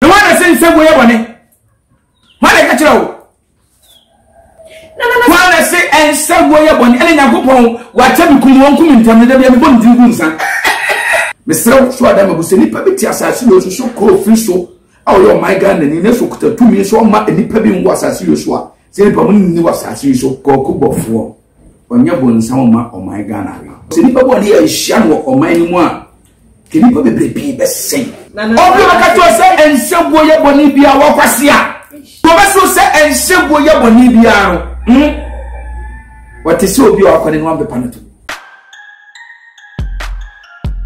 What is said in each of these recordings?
Hwan na ɛsɛ nsɛm yɛ bɔne? Hwan na ɛka kyerɛ wo? Hwan na ɛsɛ nsɛm yɛ bɔne? Ɛne Nyankopɔn wakyɛ me kum wɔn kum ntam no da bia mebɔ ne din gu nsa. Mesrɛ wo so ada ma bu sɛ nnipa bi te asase yɛ so so kɔɔ firi so a ɔyɛ ɔman Ghana ni na so kuta tumi so ɔma nnipa bi nwɔ asase yɛ so a sɛ nnipa mo nni wɔ asase yi so kɔɔko bɔfoɔ ɔnyɛ bɔnsa ɔma ɔman Ghana sɛ nnipa bɔne yɛ ahyia no wɔ ɔman no mu a Nnipa bebree pii bɛsɛe. Obi bɛka kyerɛ sɛ ɛnsɛ guo yɛ bɔne biara wɔkwasea. Wɔbɛso sɛ ɛnsɛ guo yɛ bɔne biara no. Hmm? Wɔte sɛ obi a wakwane no wampepa no to.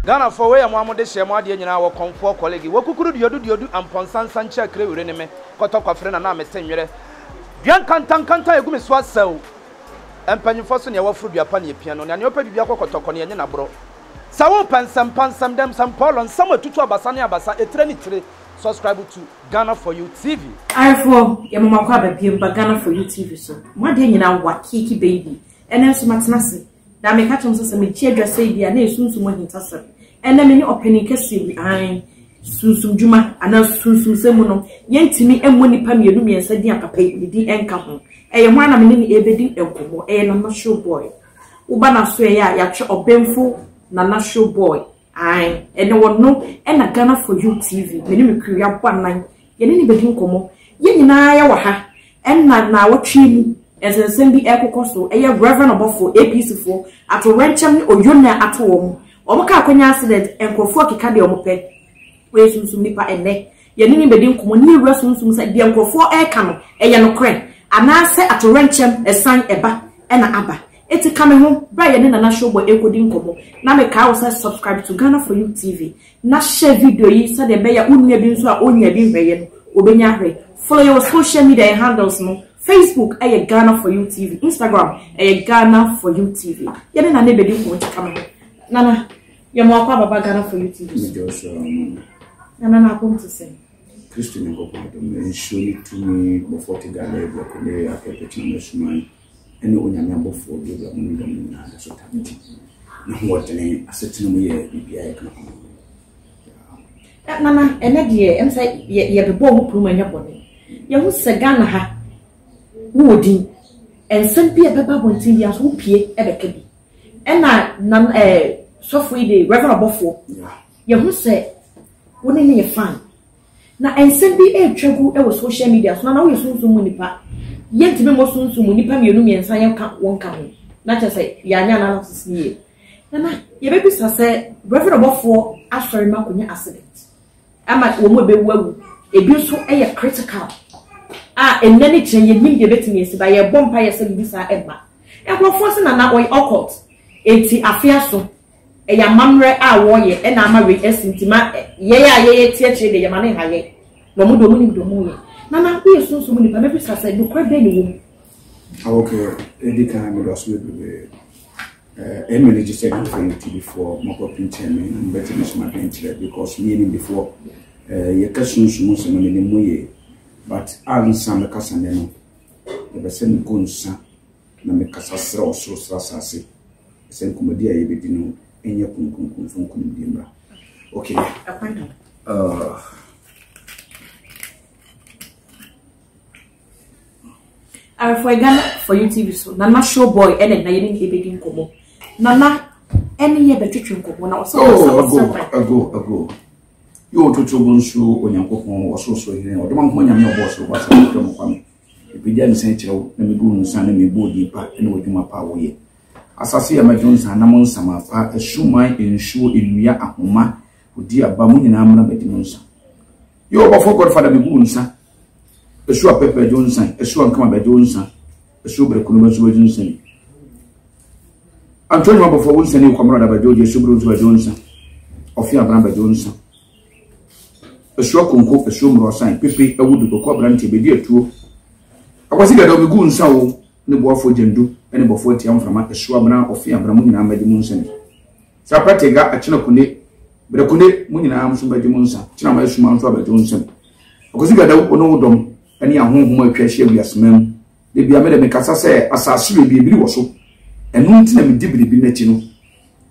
Ghana fɔ wei yɛ mo amode hyɛ mo adeɛ nyinaa wɔ kɔnfoɔ kɔlegi wɔ kukuru duodu duodu ampɔnsa nsa nkyɛ kire wire ne me kɔtɔ kwafere na na me se nwerɛ dua nkanta nkanta egu me so asɛw mpanyinfoɔ so nea wafuru dua pa ne epia no nea nea ɔpɛ bibia kɔ kɔtɔkɔ nea nye na borɔ Sɛ wo pɛ nsɛmpa nsɛm dɛm sɛm pɔɔlɔ nsɛm atutu abasa ne abasa etire ne tire subscribe to Ghana for you TV. Ayefoɔ yɛma mo akɔ aba biom ba Ghana for you TV so mo adeɛ nyina wa kiiki baby ɛnɛ nso matena ase na meka kyɛm sɛ sɛ megye adwa sɛi bi a na yɛ sunsum ahintasɛm ɛnɛ me ne ɔpanin kɛseɛ bi ae sunsum dwuma anaa sunsum sɛ mu no yɛntumi ɛmmɔ nipa mmienu mmiɛnsa din a papa yi ne din ɛnka ho ɛyɛ ho a na me ne ne ɛbɛdi nkɔmmɔ ɛyɛ na national boy Woba n'asoɛeɛ a yɛatwe ɔbenfo Nana Show Boy ae ɛne ɔno ɛna Ghana for you TV me ne me crew yɛabɔ anan yɛne no bɛdi nkɔmmɔ yɛn nyinaa yɛwɔ ha ɛna naawɔtwe yi mu nsɛnsɛm bi ɛrekokɔ so ɛyɛ Rev ɔbɔfoɔ APC foɔ atowerɛnkyɛm ne oyonaa ato wɔn wɔn kaa akɔnya accident nkurɔfoɔ keka deɛ wɔn pɛ wɔyɛ sunsum nipa ɛnɛ Yɛne no bɛdi nkɔmmɔ na yɛawura sunsum mu sɛ deɛ nkurɔfoɔ reka no, ɛyɛ nokorɛ anaasɛ atoyerɛnkyɛm ɛsan ɛba na aba. Enti ka me ho berɛ a yɛne Nana Showboy rekɔdi nkɔmmɔ. Na mekae wo sɛ subscribe to Ghana For You TV na share video yi sɛdeɛ ɛbɛyɛ a wo nua bi nso a ɔnnyaa bi nhwɛeɛ no, ɔbɛnya ahwɛ. Follow yɛn wɔ social media yɛn handles no, Facebook ɛyɛ Ghana For You TV, Instagram ɛyɛ Ghana For You TV. Yɛne Nana bɛdi nkɔmmɔ nti ka me ho. Nana. Yɛ mo akɔ ababa Ghana for you TV so. Ɛna Joshua ɔno no. Nana na akɔm te sɛn. Kristo Nyankopɔn adom no, nsuo ne tumi, bɔfoɔ te Galilea bia Kornelio apɛ pɛtena no asuman, ɛne Onyame abɔfoɔ bio bia mo ne dɔm no nyinaa da so tame ti. Na ho ɔdene asetena mu yɛ bibia yɛ kana kɔma mo. Nana, ɛnɛ deɛ, ɛm sɛ yɛbebɔ ɔmo puru mu ɛnyɛ bɔne. Yɛho sɛ Ghana ha, wowɔ din, ɛnsɛm bi ɛbɛba abɔnten bi aso wopie ɛbɛka bi. Ɛna nan ɛɛ sɔfo yi de Reverend Ɔbɔfoɔ. Yɛ ho sɛ wo ne no yɛ fine. Na nsɛm bi ɛretwa gu ɛwɔ social media so na na wo yɛ sunsum mu nipa. Yɛ ntumi mmɔ sunsum mu nipa mmienu mmiɛnsa yɛ nka wo nka ho. Na kyerɛ sɛ yɛ anyɛ analysis no yie. Na na yɛ bɛ bisa sɛ Reverend Ɔbɔfoɔ asɔre no akɔnya accident. ama wɔn a ɛbɛwu awu. Ɛbi nso yɛ critical a ɛnnɛ ne kyerɛ yɛnnim deɛ ɛbɛtumi asi ba yɛbɔ mpa yɛ sɛ bibi saa ɛmma. Nkurɔfoɔ se nana ɔyɛ occult ɛnti afe aso ɛyɛ amammerɛ a wɔyɛ ɛna ama wei asi nti ma yɛyɛ a yɛyɛ ti akyire deɛ yɛma ne ha yɛ na ɔmo deɛ ɔmo nim deɛ ɔmo yɛ. Nana woyɛ sunsum nipa mɛbisa sɛ nokorɛ bɛn ne wɔ mu? Awokɛ ɛdi kan mɛdɔso bebree. Ɛma no gye sɛ mfrɛ me tibifoɔ mɔkɔ pinkyɛn me na mobɛte me som adwenkyerɛ because me yɛ nimdefoɔ eh, yɛ ka sunsum nsɛm no menim mo yie but a nsa me kasa nɛ no yɛbɛ sɛ me gu nsa na me kasa serɛ ɔsoro serɛ asase sɛ nkumadi a yɛbɛdi no ɛnyɛ kunkunkunfo nkunimdie mmra okay uh, Arefoɔ Ghana for you TV so Nana show boy ɛna na yɛne ne ɛbɛdi nkɔmmɔ Nana ɛne yɛ bɛtwetwe nkɔmmɔ na ɔsɛ oh, ago ago ago yɛ ɔtoto bo nso onyankopɔn ɔsorosoro hene ɔdoma nkɔ nyame ɔbɔ ɔsoro bɔ asɛ ɔdɔ mu kwame ɛpɛgya ne sɛn kyerɛw na mebu no nsa na mebu odi pa ne wadwuma pa a woyɛ asase yɛ mɛdwo nsa na mo nsama pa asuman nsuo nnua ahoma odi aba mo nyinaa mmra madi mo nsa Yo ɔbɔfo godfather me gu nsa. Esu apepa ejo nsan, esu ankama ba ejo nsa. Esu bere kunu mesu ejo nsan. Antonio ɔbɔfo wo nsa ni kwamro da ba ejo esu bere nsu ejo nsa. Ofi abran ba ejo nsa. Esu akonko esu mro san pepe awudu koko abrante bedi atuo. Akwasi gado me gu nsa wo ne boafo jendu ne bɔfo atia mframa esu abran ofi abran mu nyinaa madi mu nsa ni. Sa pɛte ga akyena kune, bere kune mo nyinaa nso bɛgye mo nsa, kyena ma asuma nso abɛgye wo nsam. Akwasi Gadawu, wo ne wo dɔm ne ahonhom a atwa ahyia wiaseman mu. Da bia me de mekasa sɛ asase wei biribiri wɔ so, ɛno nti na medi biribi m'akyi no.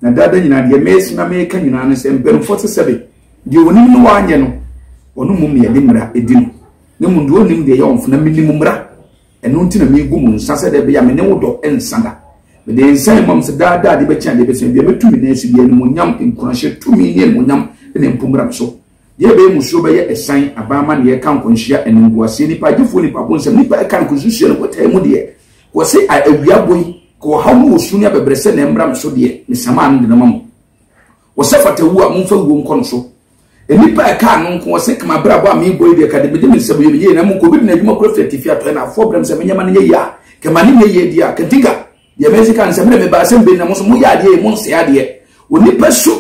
Na daa da nyinaa deɛ mese na meka nyinaa ne sɛ mpanimfoɔ sɛ sɛbe deɛ onim no wanyɛ no, ɔno mmom na yɛde mmara di no, na mmom deɛ onim deɛ yɛ ɔmfo na menim mmara. Ɛno nti na megu mo nsa sɛ dɛ ɛbɛyɛ me ne wo dɔ nsa da. Mede nsa rema mo sɛ daa daa de bɛkyɛ adeɛ bɛsua bia mɛtu me nan asi bia animuonyam, nkuranhyɛ, tumi ne animuonyam na mpo mmra me so. Deɛ ɛbɛyɛ mo suro bɛyɛ ɛsan, aban amanneɛ, ɛka nkɔnhyia, animguaseɛ, nnipa agyefoɔ, nnipa abonsam, nnipa ɛka no kɔsusua no kɔtaa mu deɛ kɔ se a awia bɔ yi, kɔ ɔhaw ne ɔsu ne abɛbrɛsɛ na ɛmmra me so deɛ mesamaa no de no ma mo. Wɔsɛ fata wu a, momfa wuo nkɔ no so. Nnipa a ɛkaa no nko, wɔsɛ ka m'abrabɔ a merebɔ yi deɛ, ka de mede me nsɛm yɛ no yie, na mmom ka obi de n'adwuma kura firi atifi, atɔeɛ, na afoforɔ brɛ me sɛ menyɛ ma no nyɛ yie a, ka ma no nyɛ yie deɛ a, ka nti ka. Deɛ masi ka ne sɛ, me na mebaa sɛ mebɛdi, na mo nso moyɛ adeɛ yei, monsɛe adeɛ. Onipa su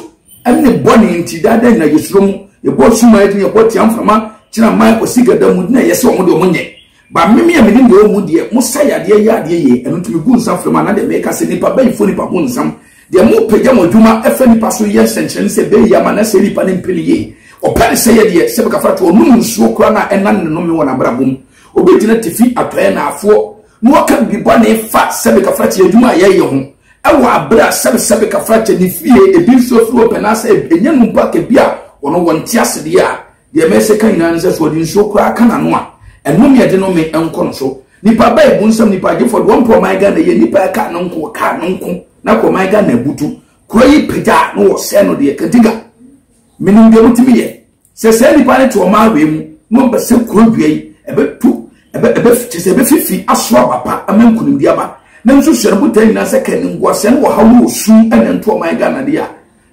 ne bɔne nti, daa da nyinaa yɛsuro mo, yɛbɔ asuman din, yɛbɔ tia mframa, gyina mman, kwasiga da mu, na yɛse wɔn deɛ wɔnyɛ. Ba meme a menim deɛ ɔmu deɛ mosa yadeɛ yɛ adeɛ yie ɛno nti megu nsa frɛ mu anaa deɛ meka sɛ nipa bɛyifoɔ nipa bonsam deɛ mopagya mo adwuma ɛfa nipa so yɛ nsɛnkyerɛnne sɛ bɛyi ama na sɛ nipa no mpɛ no yie ɔpɛ ne sɛ yɛ deɛ sɛ bɛkafra to ɔnom nsuo koraa na ɛnan ne nome wɔ n'abrabɔ mu obi gyina tifi atɔɛ na afoɔ na ɔka bi bɔ ne fa sɛ bɛkafra kyɛ adwuma a yɛyɛ ho ɛwɔ abere a sɛbe sɛ bɛkafra kyɛ ne fie ebi nso afiri ɔpɛ na sɛ ɛnyɛ no mpo akɛbi a ɔno wɔnte asedeɛ a Deɛ mɛsɛ ka nyinaa ne sɛ, sɛ ɔde nsuo koraa ka n'ano a, ɛnome a ɛde nome nkɔ no so. Nipa ba ebu nsam nipa agyefoɔ de wɔn mpɛ ɔman Ghana yie. Nipa ɛka no nko, ɔkaa no nko na kɔ ɔman Ghana abutu. Kuro yi pagya a na wɔsɛe no deɛ Kadiga. Menim deɛ motumi yɛ. Sɛ saa nipa no te ɔman wei mu na ɔmpɛ sɛ kuro dua yi ɛbɛtu ɛbɛ ɛbɛ kyɛ sɛ ɛbɛfifi aso aba pa ama nkunimdi aba na nso hyɛ no botae nyinaa sɛ kɛ ne nguasɛn wɔ haw ne wɔ sum ɛna nto ɔman Ghana deɛ a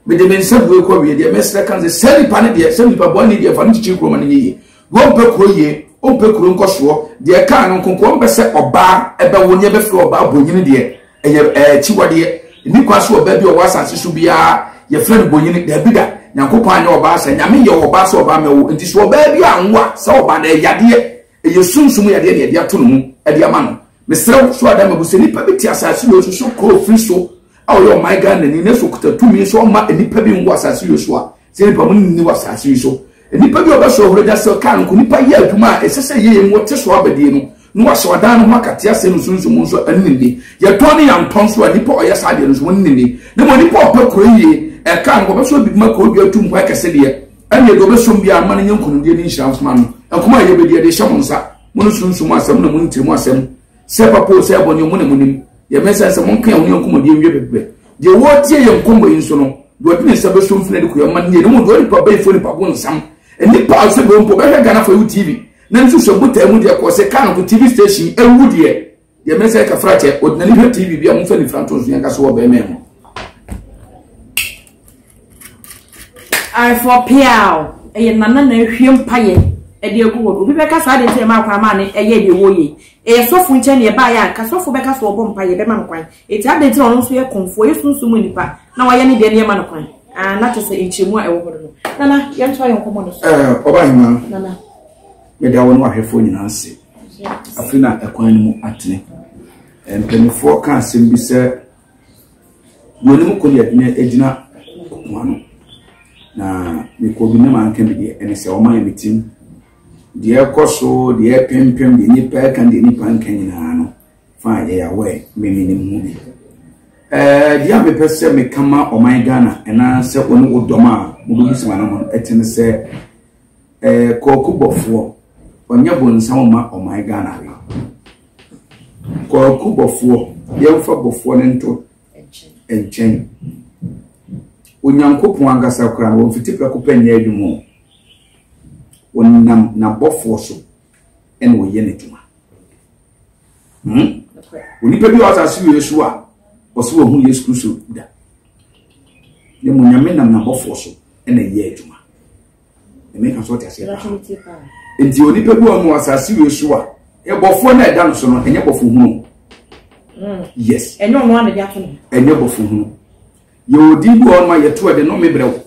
Mede me nsa bue kɔ wie deɛ mɛsrɛ ka sɛ saa nipa no deɛ sɛ nipa bɔne deɛ fa no kyikyiri kuro ma no nyɛ yie deɛ ɔmpɛ kuro yie ɔmpɛ kuro nkɔsoɔ deɛ kaa no nkonko ɔmpɛ sɛ ɔbaa ɛbɛwo ne ɛbɛfiri ɔbaa bonyini deɛ ɛyɛ ɛkyiwadeɛ nni kwa so ɔbaa bi ɔwɔ asase so biara yɛfrɛ no bonyini daabi da nyankopɔn anyɛ ɔbaa sɛ nyame yɛ ɔbaa sɛ ɔbaa mɛwo nti so ɔbaa bi anwo a sɛ ɔbaa no ɛyadeɛ Ɛyɛ sunsum yadeɛ na yɛde ato ne mu de ama no. Mesrɛ wo, so ada mabu sɛ nipa bi te asase wei so so kɔɔ firi so a ɔyɛ ɔman Ghanani na so ɔkuta tumi sɛ ɔmma nnipa bi nwo asase wei so a sɛ nipa mu nni wɔ asase yi so. Nipa bi a ɔbɛsɔ ɔhore da sɛ kaa no nko nipa yɛ adwuma a ɛsɛ sɛ yɛyɛ mu wɔ te so abadie no na wahyɛ wadan no ho akate asɛe no sunsum nso ɛno ne ni. Yɛtɔn ne yɛantɔ nso a nipa a ɔyɛ saa adeɛ no nso ɛno ne ni. Na mmom nipa a ɔpɛ kuro yie ɛkaa no ɔbɛsɔ biribi ma kuro dua tu nkwan kɛse deɛ. ɛneɛ deɛ ɔbɛsom biara ma no nyɛ nkonimdie ne nhyira mfoma no ɛkɔm a yɛbɛdi ɛde hyɛ mo nsa mo no sunsu mo asɛm na mo ntiri mo asɛm sɛ papa o sɛ ɛbɔ ne mo ne mo nim yɛmɛ sɛ sɛ monka ɛho ne nkɔmmɔdie nwie bɛbrɛ deɛ wɔretie yɛ nkɔmmɔ yi nso no deɛ ɔde ne nsa bɛso mfina de koyɛ ma ne ne mu deɛ ɔnipa bɛyifoɔ nipa bo nsam nnipa a ɔsɛ bɛmpo bɛhwɛ ghanafoɔ yi wo tv na nso sɛ botaa mu deɛ kɔɔ sɛ kaa no tv station ɛwu deɛ deɛ mɛ sɛ kafra kyɛ ɔdinani hwɛ tv bi a momfa nifra nto nso yɛnka so wɔ bɛrima mu aefoɔ peaw ɛyɛ nana na ahwie mpayɛ ɛde agu hɔ no obi bɛka saa deɛ sɛ ɛma akwan ma ne ɛyɛ deɛ wɔyɛ ɛyɛ sɔfo nkyɛn ne ɛbaa yɛ anka sɔfo bɛka so ɔbɔ mpayɛ bɛma no kwan ɛti ade nti na ɔno nso yɛ kɔmfoɔ yɛ sunsum nipa na wayɛ ne deɛ ne ɛma no kwan na kyɛ sɛ nkyɛmu a ɛwɔ hɔ no nana yɛntoa yɛ nkɔmmɔ no so ɔba hema meda wɔ ne wahwɛfoɔ nyinaa ase Afei na ɛkwan no mu atene. Mpanimfoɔ ka asɛm bi sɛ, wɔn anim kɔ deɛ ne agyina ɔko ano. Na mekɔ bi ne ma nka bi deɛ ɛne sɛ wɔn ayɛ me tim. Deɛ ɛkɔ so, deɛ ɛpempem, deɛ nipa ɛka, deɛ nipa nka nyinaa no, fa yɛ awɛ mmemme ne mu bi. Ɛɛ deɛ a mepɛ sɛ meka ma ɔman Ghana ɛna sɛ wɔn ne wo dɔm a wɔbɛbisa wɔn ano ɛtene sɛ Eh, Kwaku Bɔfoɔ, ɔnyɛ bonsam ma ɔman Ghana we. Kwaku Bɔfoɔ, yɛmfa Bɔfoɔ no nto nkyɛn. Onyankopɔn ankasa koraa, wɔmfiti prɛko pɛ nyɛ adwuma o. Wɔnam n'abɔfoɔ so ɛna ɔyɛ n'adwuma. Hmm? Onipa bi a ɔsa se wei so a, ɔse wɔhu Yesu Kristo da. Ne mu Nyame nam n'abɔfoɔ so ɛna ɛyɛ adwuma. ɛmɛ kan so ɔte aseɛ paa nti onipa bi wɔn mu asase wei so a ɛbɔfoɔ na ɛda no so no ɛnyɛ bɔfo hunu hmm. yes ɛnyɛ ɔno ana de ato no ɛnyɛ bɔfo hunu yɛ odi bi wɔn mu a yɛto ɛde no mebrɛ wo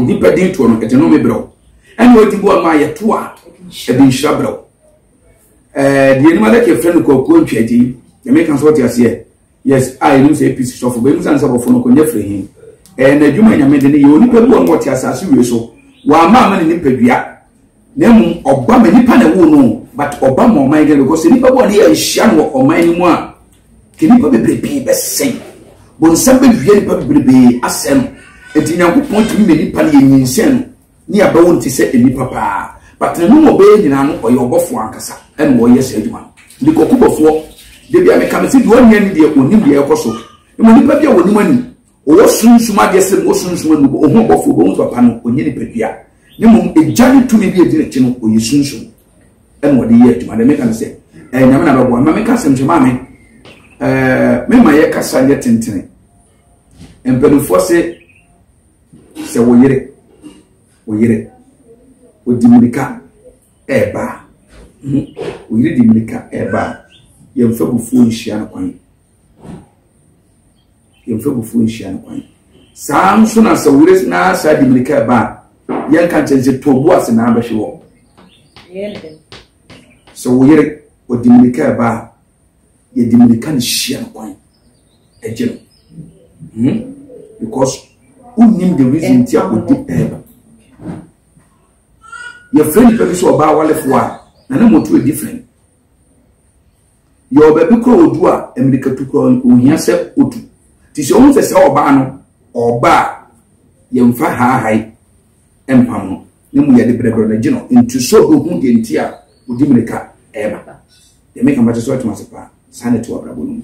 nipa din toɔ no ɛde no mebrɛ wo ɛna odi bi wɔn mu a yɛto a ɛde nhyira brɛ wo ɛɛ deɛ anim adaka efirɛ no kɔkɔɔ ntwa akyi ɛmɛ kan so ɔte aseɛ Yes a yɛnim sɛ APC sɔfo bɛyɛ mu sane sɛ bɔfo no kɔnya firi he. Ɛyɛ n'adwuma nyame de no yɛ onipa bi wɔ no wɔte asase wie so wɔama ama ne nipadua na mmom ɔba ma nipa na ɛwo no but ɔba ma ɔman gɛ because nipa bi wɔ no yɛ nhyia no wɔ ɔman no mu a ke nipa bebree pii bɛsɛn bonsam bɛwie nipa bebree asɛn no enti nyankopɔn tumi ma nipa no yɛ nyinsɛn no Ne aba wo nte sɛ nnipa paa but ne nom ɔbɛyɛ nyinaa no ɔyɛ ɔbɔfoɔ ankasa ɛna ɔyɛ saa adwuma no because kubɔfoɔ da bia meka me se deɛ ɔnyɛ ne deɛ ɔnim deɛ ɛkɔ so ɛmɔ nipa bi a ɔnim anim ɔwɔ sunsum adeɛ sɛ ɔwɔ sunsum anim ɔho ɔbɔfoɔ bɛhu papa no ɔnyɛ nipadua ne mmom ɛgya ne tumi bi ɛdi ne ti no ɔyɛ sunsum ɛna ɔde yɛ adwuma deɛ meka ne sɛ ɛɛ nyame na bɛboa ma meka sɛm sɛ maame ɛɛ mema yɛ kasa nyɛ tentene mpanimfoɔ se sɛ wo yere wo yere ɔdi mmirika ɛreba a wo yere di mmirika ɛreba a yɛmfa bufuo nhyia no kwan yɛmfa bufuo nhyia no kwan saa nso na sɛ wo yere na saa di mmirika ɛreba a yɛnka nkyɛn sɛ tɔn bu ase na abɛhwe wɔ sɛ wo yere ɔdi mmirika ɛreba a yɛde mmirika ne hyia no kwan agye no hmm? because wonnim the reason nti a ɔdi ɛɛba yɛfrɛ nnipa bi sɛ ɔbaa walefoɔ a na ne moto ɛdi frɛ yɛwɔ baabi kora ɔdu a mmirikatu kora ɔhia sɛ ɔtu nti sɛ ɔhu sɛ sɛ ɔbaa no ɔbaa yɛmfa haahae mpam no ne mu yɛ de brɛbrɛ no gye no ntu sɛ ɔbɛhu deɛ nti a ɔdi mmirika ɛreba deɛ meka mɛte so atoma ase paa saa na ɛte wabrabɔ no mu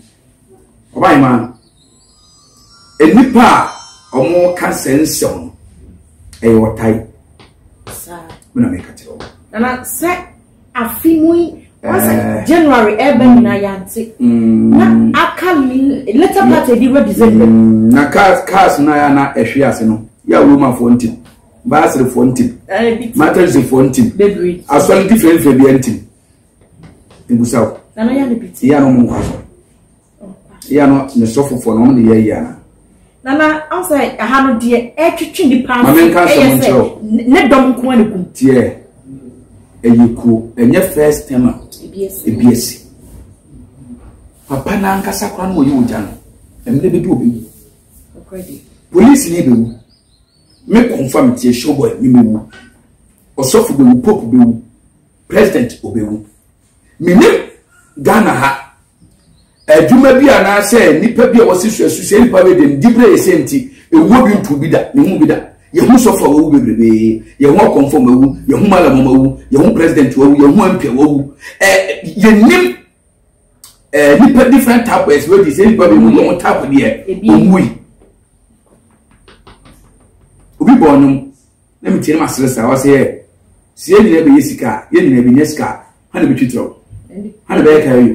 ɔbae ma nnipa a wɔka sɛ nsɛm no ɛyɛ ɔtae me na meka kyerɛ wɔ nana sɛ afe mu yi wɔsɛ eh. january ɛbɛ mm. nyinaa yɛante mm. na aka later part ɛdi wɔ december mm. na cars cars na yɛ na ɛhwe ase no yɛ a wɔmafoɔ ntim Baasrefoɔ ntim, Matɛnsefoɔ ntim, asɔre nti fɛnfɛ bi ntim. Ebusa o. Iya no mu nkɔ asɔre. Iya no ne sɔfofoɔ na wɔn de yɛ iya na. Nana ansa aha no deɛ ɛtwitwi nipa nso. Maame nka asɛm nkyerɛ o. Ne dɔm nko ne kum. Tiɛ ɛyɛ kuro ɛnyɛ first term a ebi esi. Papa n'ankasa kora no wɔyɛ ogya no ɛmɛ bɛ du obi wu. Polisi ni ebi wu. Me confirm tie show boy me me wu ɔsɔfo be wu pope be wu president obe wu me ne Ghana ha adwuma bi anaasɛ nipa bi a wɔsi so asu sɛ nipa bɛ de ne dibre yɛ sɛ nti ewuo bi ntu bi da ne ho bi da yɛhu sɔfo a wawu bebrebe yɛhu akɔmfo ma wu yɛhu malamɔ ma wu yɛhu president wawu yɛhu mp wawu ɛɛ yɛnim ɛɛ nipa different type of explosives sɛ nipa bi mu na wɔn type deɛ wɔn wui obi bɔ ɔnum na mi tie ne ma sere sa ɔsɛ yɛ si yɛ nyinaa bɛ yɛ sika yɛ nyinaa bɛ nyɛ sika hana bɛ twitwa o hana bɛ yɛ kaa yi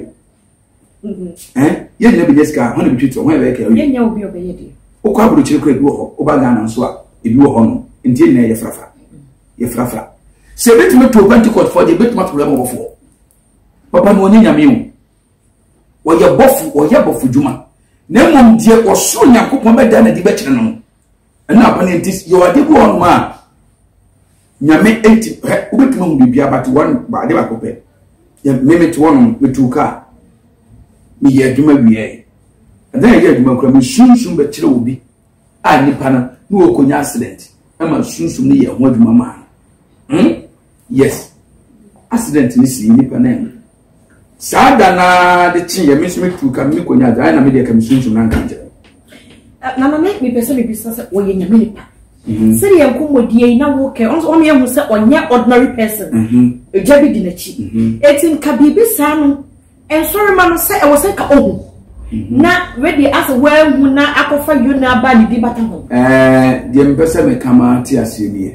o ɛn yɛ nyinaa bɛ nyɛ sika hana bɛ twitwa o hana bɛ yɛ kaa yi o okɔ aburukyiri kura ebi wɔ hɔ ɔba ghana nso a ebi wɔ hɔ no nti yɛ nyinaa yɛ farafa yɛ farafa sɛ ebi tumi to pentikɔt fɔ deɛ ebi tumi ato rɛmɔ wɔ fɔ. Papa no ɔnyɛ nyame o. Ɔyɛ bɔfo, ɔyɛ bɔfo dwuma. Na mmom deɛ ɔsoro Nyankopɔn bɛda n'adi bɛkyerɛ no no. Ɛna apa no nti yɛwɔ ade bi wɔ hɔ a nyame enti hɛ wobɛtumi ahu biribi abate wɔn ade baako pɛ. Mmemme te wɔnom metu kaa. Meyɛ adwuma wieɛ. Ɛna yɛyɛ adwuma kura me sunsun bɛkyerɛ obi a nipa no na wɔkɔnya accident ɛma sunsun no yɛ ho adwuma maa no. Hmm? Yes, accident no sii nnipa nan mu. Saa da no ara de kye yɛ me nso metu ka me kɔnya agya na medeɛ ka mesunsum no anka nkyerɛ. Na na me mepɛ sɛ mebisa sɛ wɔyɛ nyame nipa. Mhm. Sɛdeɛ nkɔmmɔdie yi na wokɛ ɔno yɛhu sɛ ɔnyɛ ordinary person. Ɛgya mhm. bi di n'akyi. Ɛti mhm. nka biribi saa no nsɔrema no sɛ ɛwɔ sɛ ka ɔhu. Mhm. na wede asɛ woahu na akɔfa yona aba ne di bata ho deɛ mpɛ sɛ meka ma te aseɛ nie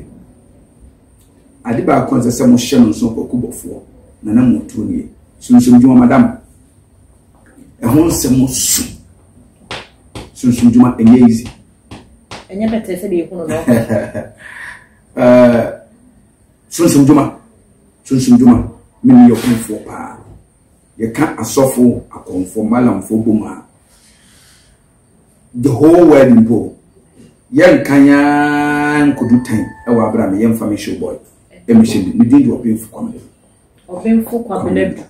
Ade baako a ɛsɛ sɛ mohyɛ no nso kwaku bɔfoɔ na na motuo no yɛ sunsumdwuma madam ɛho nsɛm so sunsumdwuma ɛnyɛ easy ɛnyɛ bɛtɛ sɛ deɛ ɛhunu no sunsumdwuma sunsumdwuma mene yɛ kɔmfoɔ paa yɛka asɔfo akɔmfoɔ malamfoɔ bom a The whole world mpo yɛnkan ara nkodu tan ɛwɔ abira mi yɛnfa mi show boy ɛmi hyɛ mi mi din di ɔbɛnfo kwamina du ɔbɛnfo kwamina du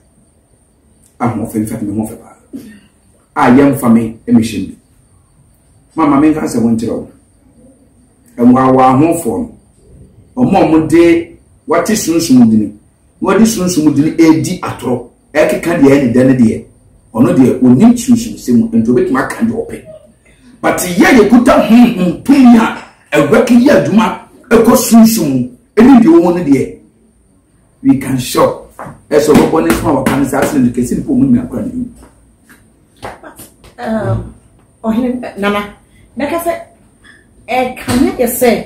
ahoɔfɛ nfa mi ho fɛ paa a yɛnfa mi ɛmi hyɛ mi maama mi nka sɛ wɔn nkyerɛ wɔn ɛwaawa ahoɔfoɔ no wɔn a wɔn de wɔate sunsun dini wɔde sunsun dini edi atorɔ. ɛkeka deɛ ɛne dɛ no deɛ ɔno deɛ ɔnim sunsunsɛm mu nti ɔbɛtumi aka deɛ ɔpɛ but yɛ yɛkuta honhom tumi a ɛwɛke yɛ adwuma ɛkɔ sunsum mu ɛne deɛ ɔwɔ no deɛ we can show ɛsɛ ɔbɛbɔ ne so a wɔka no saa sɛ no kɛsi mpo ɔmu nyina kora ne mu ɔhene um, nana mɛka sɛ ɛkame yɛ sɛ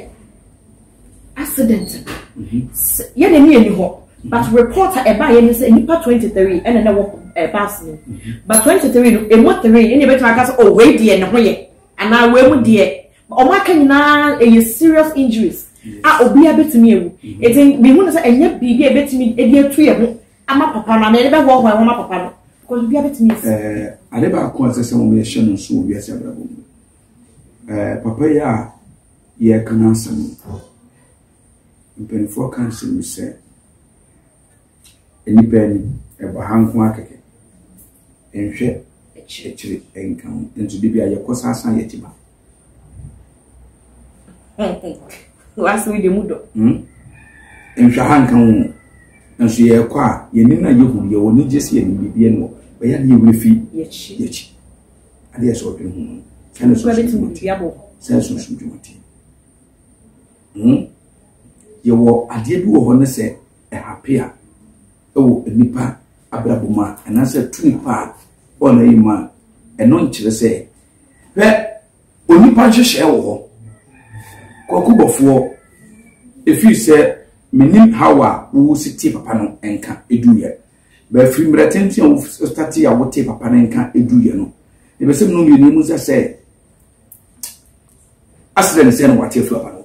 accident mhm. yɛ na ni ɛni hɔ but report a ɛbaa yɛ ni sɛ nipa twenty three ɛna na ɛwɔ ɛɛ baasi no mhm. but twenty three no emu three ɛna ɛbɛtumi aka sɛ oh wei deɛ ne ho yɛ anaa wei mu deɛ wɔn aka nyinaa ɛyɛ serious injuries a obiara bɛtumi ewu eti mihu no sɛ ɛnyɛ biribi a ɛbɛtumi ɛde atu yɛ ho ama papa no anaa yɛde bɛhoahoa ho ama papa no because obiara bɛtumi asi. Eh, ade baako a ɛsɛ sɛ wɔn yɛhyɛ no nso wɔ wiase abrabɔ mu eh, papa yi a yɛreka no asɛm mpanimfoɔ ka nsɛm bi sɛ nnipa ani ɛbɔ ha nko akɛkɛ nhwɛ akyire nka ho nso de bi a yɛkɔ saa san yɛkyi ba. w'asɛm deɛ mu dɔ hmm? nhwɛ ha nka wo nso yɛrekɔ a yɛnim na yɛhu yɛ wɔ anigye sɛ yɛnim biribiɛ no wɔ bɛyɛ ne yɛwerɛ fi yɛkyi adeɛ sɛ ɔdwene ho no sɛ ne sonsom dwumati hmm? yɛwɔ adeɛ bi wɔ hɔ ne sɛ ɛhape a ɛwɔ nnipa abrabɔ mu a anaasɛ tu nipa a ɔna yi mu a ɛno nkyerɛ sɛ Hwɛ, onipa nhyehyɛɛ wɔ hɔ, Kwaku Bɔfoɔ, ɛfiri sɛ menim haw a wowu si tee papa no nka ɛduiɛ. Bɛfiri mmerɛ tenten a wotatee a wotee papa no nka ɛduiɛ no, na ɛbɛsɛ mu no mmienu mu sɛ sɛ accident sɛ na wate afiri papa no.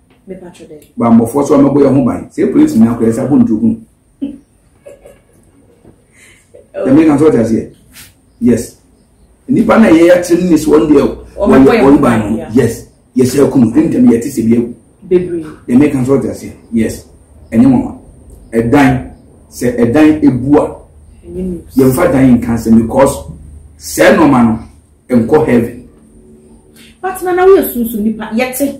bammɔfoɔ so ɔmɛbɔ yɛ ho ban sɛ polisi nya kɔ yɛ sɛ abontu hu ɛmɛ kan so ɔte aseɛ yes nipa na yɛ yɛtiri ne so ɔn deɛ wɔyɛ ɔn ban no yes yɛsɛ akunu ɛntɛm yɛte sɛ bi agu ɛmɛ kan so ɔte aseɛ yes ɛnyɛ mɔma ɛdan sɛ ɛdan ebua yɛnfa dan nka sɛ because sɛ nɔɔma no nkɔ heaven. pati na na woyɛ sunsun nipa yɛte.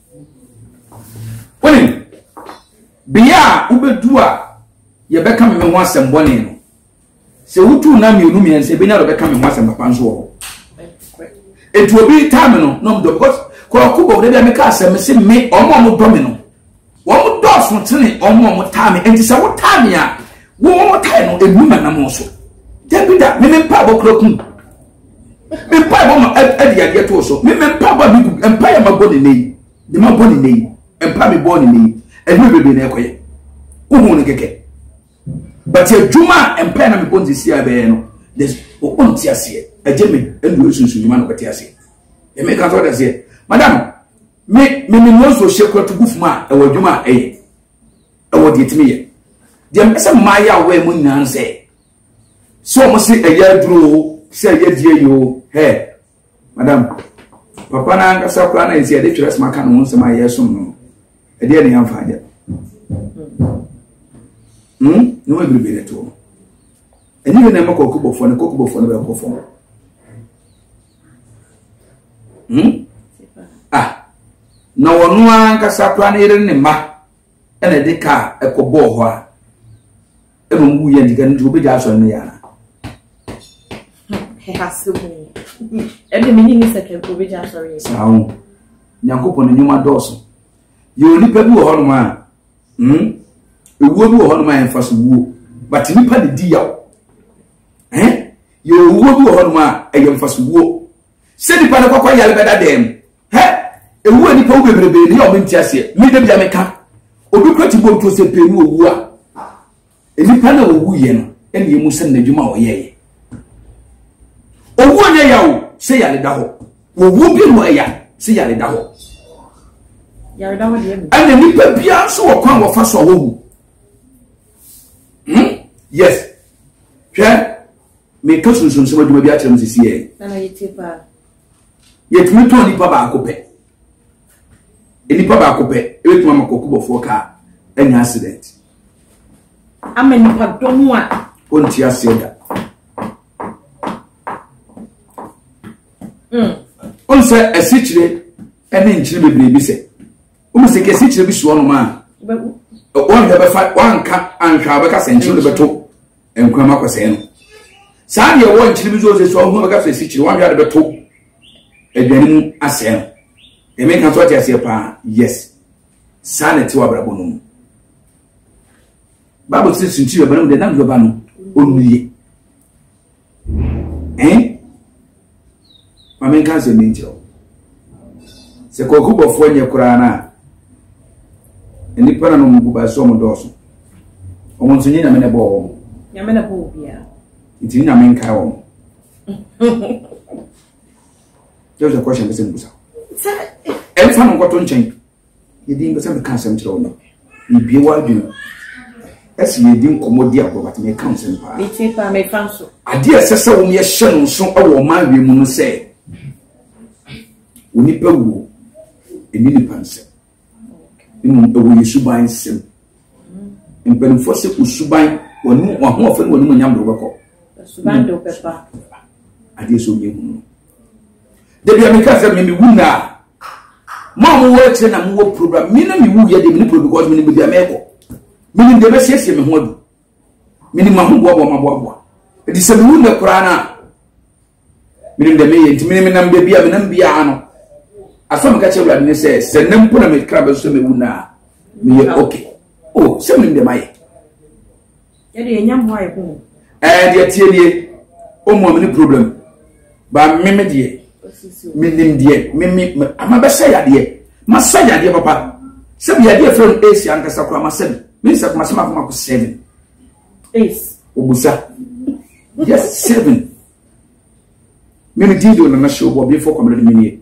wonim bea a wobɛdu a yɛbɛka me ho asɛm bɔne no sɛ wotu na mmienu mmiɛnsa ebi na bɛka me ho asɛm papa nso wɔ hɔ etu obi taa me no na ɔmdɔ because kɔɔko bɔ ɔdɛbi a meka asɛm se me ɔmo ɔmo dɔ me no wɔn dɔɔso tene ɔmo ɔmo taa me nti sɛ wotaa me a wɔn wɔn taa no emu ma nam so dɛbi da meme mpa abɔ kura kum. me mpaebɔ ma ɛde yadeɛ too so me me mpaebɔ a megu mpaeɛ ma bɔ ne nɛ yi de ma bɔ ne nɛ yi mpae me bɔ ne nɛ yi ɛdwuma bebree na ɛkɔyɛ wohu no kɛkɛ but adwuma a mpae na mebɔ nsisi a bɛyɛ no there's ɔnte aseɛ ɛgye me ɛndu esunsun dwuma na ɔbɛte aseɛ ɛmɛ ka sɛ ɔte aseɛ madam me me me nose wɔ hyɛ kura tugu fuma a ɛwɔ adwuma a ɛyɛ ɛwɔ deɛ tumi yɛ deɛ mpɛ sɛ mmaayɛ a wɔyɛ mo nyinaa sɛ Sɛ wɔn se ɛyɛ aduro o, sɛ ɛyɛ die yi o, hɛ, madam, papa no ankasa koraa na ɛsɛ yɛde twerɛ soma aka ne ho nsɛm a yɛresom no no, ɛdeɛ ne yɛmfa agya. Hmm? Ne ho ebiribi ne toɔ. Ɛnyɛ bi na ɛma kɔkɔbɔfoɔ no, kɔkɔbɔfoɔ no bɛkɔ fam. Hmm? Ah, na wɔn ankasa koraa no yere ne mma. ɛna ɛde kaa ɛkɔ bɔɔ hɔ a ɛna wɔn wuyɛ nti kan nti wɔbɛgya asɔre no yɛ ana. ɛhase mu ɛde mi nyini sɛ kɛntɛ wɔbɛgya asɔre yɛ. saa ho nyankopɔn ne nnwuma dɔɔso yɛ onipa bi wɔ hɔnom a hmm ewuo bi wɔ hɔnom a yɛn fa so wuo but nipa de di yaw ɛn yɛ owuo bi wɔ hɔnom a ɛyɛ nfa so wuo. sɛ nipa no kɔkɔ yare bɛda dan mu hɛ ewu a nipa wu bebrebe ne yɛ ɔmo nti aseɛ mi de bia meka obi kura ti bom to sɛ pee ne owu a nipa na owu yɛ no ɛna emu sɛ n'adwuma a ɔyɛ yɛ owu a nyɛ yawo sɛ yare da hɔ owu bi no ɛya sɛ yare da hɔ ɛna nipa biara nso wɔ kwan wɔfa so a wɔwu hmm yes hwɛ. Meretɔ sunsuansom adwuma bi akyerɛ mo sisi yɛ. Na na yɛtie paa. Yɛtumi tɔn nipa baako pɛ. Nipa baako pɛ ebetumi ama kɔkɔbɔfoɔ kaa anya accident. Ama nipa dɔm a. Ɔnti aseɛ da. Mm. Ɔnsɛ asikyire ɛne nkyene bebree bi sɛ. Ɔmu sɛ kɛsikyire bi soɔ nom a. Wɔnhwɛ bɛfa wɔnka anhwɛ a bɛka sɛ nkyene no bɛto. nkurama akɔsɛe no saa deɛ ɛwɔ nkyene bi so ɔsɛ so ɔhu bɛka sɛ sikyere wɔnhwɛ ade bɛto aduane mu asɛe no ɛmɛ nka so ɔte aseɛ paa yes saa na ɛte wɔ abrabɔ no mu bible sɛ sunkyiri bɛba no mu deɛ nam bɛba no ɔnnuye ɛn maame nka nsɛm bi nkyerɛ wo sɛ kwaku bɔfoɔ nyɛ koraa no a nnipa na no mu gu bae so ɔmo dɔɔso ɔmo nso nyɛ nyame na ɛbɔɔ wɔn nyame na bɔɔ obiara nti ne nyame nkae wɔn yɛ sɛ kɔhyɛ mpɛ sɛ mbusa ɛmfa no nkɔto nkyɛn Yɛde mpɛ sɛ meka asɛm kyerɛ wo no, yɛbie w'adwene mu. Ɛsɛ yɛdi nkɔmmɔ di agorɔ, but meka nsɛm paa. Metie paa, mefa nso. Adeɛ a ɛsɛ sɛ wɔn yɛhyɛ no nso wɔ ɔman wie mu no sɛ, onipa wuo, ɛni nipa nsɛm. Mmom, ɛwɔ yɛ suban nsɛm. Mpanimfoɔ sɛ osuban, w'ahoɔfɛ ne w'animonyam de wobɛkɔ. Suban de wobɛba. Adeɛ sɛ ɔnyɛ hunu no. Da bi a meka sɛ me mewu nna a, mo a mowɔ akyire na mowɔ program, me na mewu yɛ deɛ mene program because menim baabi a mɛkɔ. Menim deɛ bɛsiesie me ho adu. Menim ma ho boaboa ma boaboa. Ɛti sɛ mewu nnɛ koraa no a, menim deɛ meyɛ nti menim nam baabi a menam biara no. Asɔ meka kyerɛ Awurade ne sɛ sɛ nnɛ mpo na mekra bɛso sɛ mewu nna a, meyɛ okay. Oh, sɛ menim deɛ mayɛ. Yɛde yɛn nyɛ mmoa yɛ ho. Ɛɛ deɛ tie nie, ɔmu a mene problem. Ba meme deɛ, menim deɛ, meme ama bɛsɛ yadeɛ. Masa yadeɛ papa. Sɛbi yadeɛ fɛ no Asia ankasa koraa masa bi. Me nsa kuma sɛ mako mako seven. Ace. Obusa. Yes, seven. Me me din de Onana Show bɔ before kɔmɛlɛ de me nie.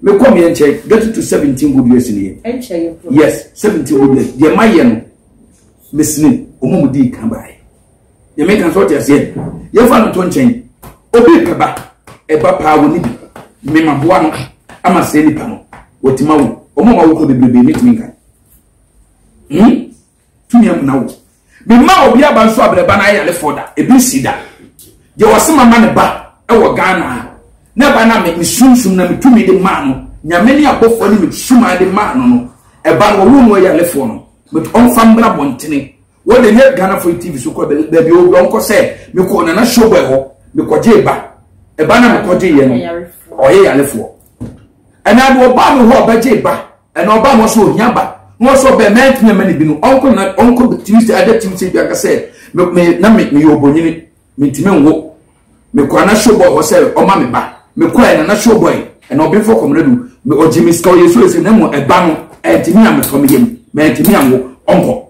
Me kɔ me nkyɛn get to seventeen good years nie. Yes seventeen good years deɛ ma yɛ no me sini ɔmo mu di kan baayi. Yɛ me kan so ɔte aseɛ yɛ fa no to nkyɛn obi pɛ ba ɛba paa wɔ ne bi me ma boa no ama sɛ nipa no wɔtuma wo ɔmo ma wo kɔ bebrebe me tumi nkan. Hmm. tumi amuna wo. Mema obi aba nso abrɛba no ayalefoɔ da, ebi nsi da. Deɛ ɔse mama ne ba wɔ Ghana a, na ɛba na me sunsum na metumi de maa no, nyame ne abɔfoɔ ne mesumaa de maa no no, ɛba no wɔwo no ayalefoɔ no, but ɔmfa mmra bɔntene. Wɔde nyɛ Ghana Free TV so kɔ baabi ɔwɔ bi ɔnkɔ sɛ mekɔ nana showboy hɔ, mekɔgye ba, ɛba na mekɔgye yɛ no, ɔyɛ yalefoɔ. Ɛnaa de ɔbaa me hɔ ɔbɛgye ba, Ɛna ɔbaa mo so ohia ba na ɔsɛ ɔbɛn mɛ ntumi mɛ ne bi no ɔnkɔ na ɔnkɔ timi sɛ ada timi sɛ bi aka sɛ me me na me me yɛ ɔbɔnyini me ntumi nwo me kɔ ana show boy hɔ sɛ ɔma me ba me kɔ ɛna na show boy ɛna ɔbɛn fɔ kɔmina du me ɔgye me sika ɔyɛ so ɛsɛ na mo ɛba no ɛntumi a me kɔ me yɛ mu mɛ ntumi anwo ɔnkɔ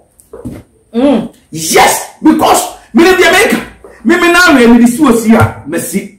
mm. yes because me ne deɛ mɛka me me na awɛ me de si osi a mɛ si.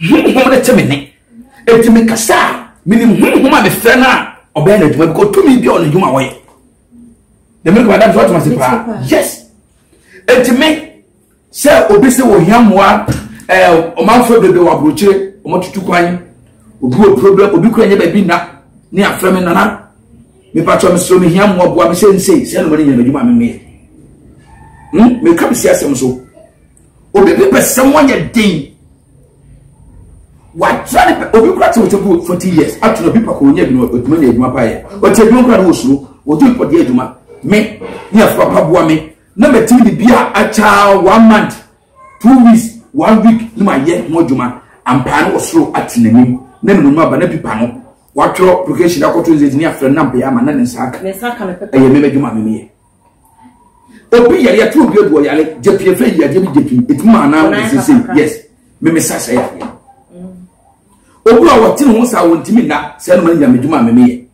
honhom no te me ne enti mekasa a menim honhom a mefrɛ no a ɔbɛyɛ no adwuma bikɔ tumi bi a ɔno adwuma wɔyɛ dɛmɛ kɔ adam so atoma se paa yes enti me sɛ obi sɛ wɔhia mmoa ɛɛ ɔmanfoɔ bebree wɔ aburokyire wɔtutu kwan obi wɔ problem obi kura nyɛ baabi nna ne afrɛ me nana mepatɔ mesoro mehia mmoa boa me sɛ nsei sɛ nomane nyɛ no adwuma memeyɛ meka mesi asɛm so Obi bi pɛ sɛ wɔnyɛ den. Watra ne pɛ obi kura te wɔte bu forty years ato obi pɛ kɔ wɔnyɛ adwuma adwuma nyɛ adwuma pa yɛ. Wɔte adwuma kura ne wɔ suro wɔtu nkɔdeɛ adwuma me ne afipapa boa me na mɛtumi de bi a akyɛ one month two weeks one week ne ma yɛ ho adwuma ampaa ne wɔ soro ate n'anim na ne mu aba na pipa no watwerɛ application akɔto nzɛdzi ne afrɛ no na mpɛyɛ ama na ne nsa aka ɛyɛ mɛmɛ adwuma mɛmɛ yɛ. obi yare yɛto obi agu ɔyare gyapie fɛ yi adeɛ bi gyapie ɛtumi ma anaa wɔn sese yes memesa sɛ yareɛ mm. obi a wɔte ne ho saa wɔntumi nna sɛ ɛnoma no nyame dwuma a memeyɛ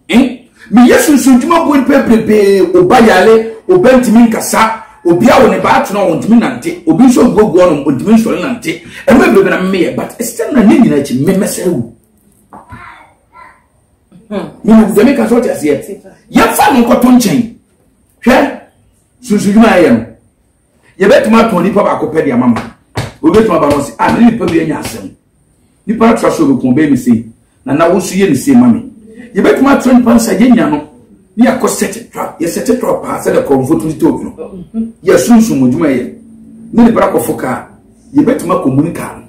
eh? meyɛ sunsun dwuma boɔ nipa bebree oba yare oba ntumi nkasa obi a wɔne baa tena wɔntumi nante obi nso guagu ɔnom wɔntumi nsɔre nante ɛma bebree na memeyɛ but ɛsɛ na ne nyina akyi memɛsɛ wu yɛn sɛ meka sɛ ɔte aseɛ yɛmfa no nkɔto nkyɛn hwɛ sunsudwuma a ɛyɛ no yɛbɛtumi atɔn nipa baako pɛ de ama ma obɛtumi aba no sɛ a mene nipa bi anya asɛm nipa atra so bɛkɔn bɛyɛ me sei na na wo so yɛ ne sei ma me yɛbɛtumi atra nipa nsa yɛnya no ne yɛakɔ sɛte trap yɛsɛte trap paa sɛ dɛ kɔmfo to titɛ opino yɛsunsum adwuma yɛ ne ne bra kɔfo kaa yɛbɛtumi akɔmuni kaa no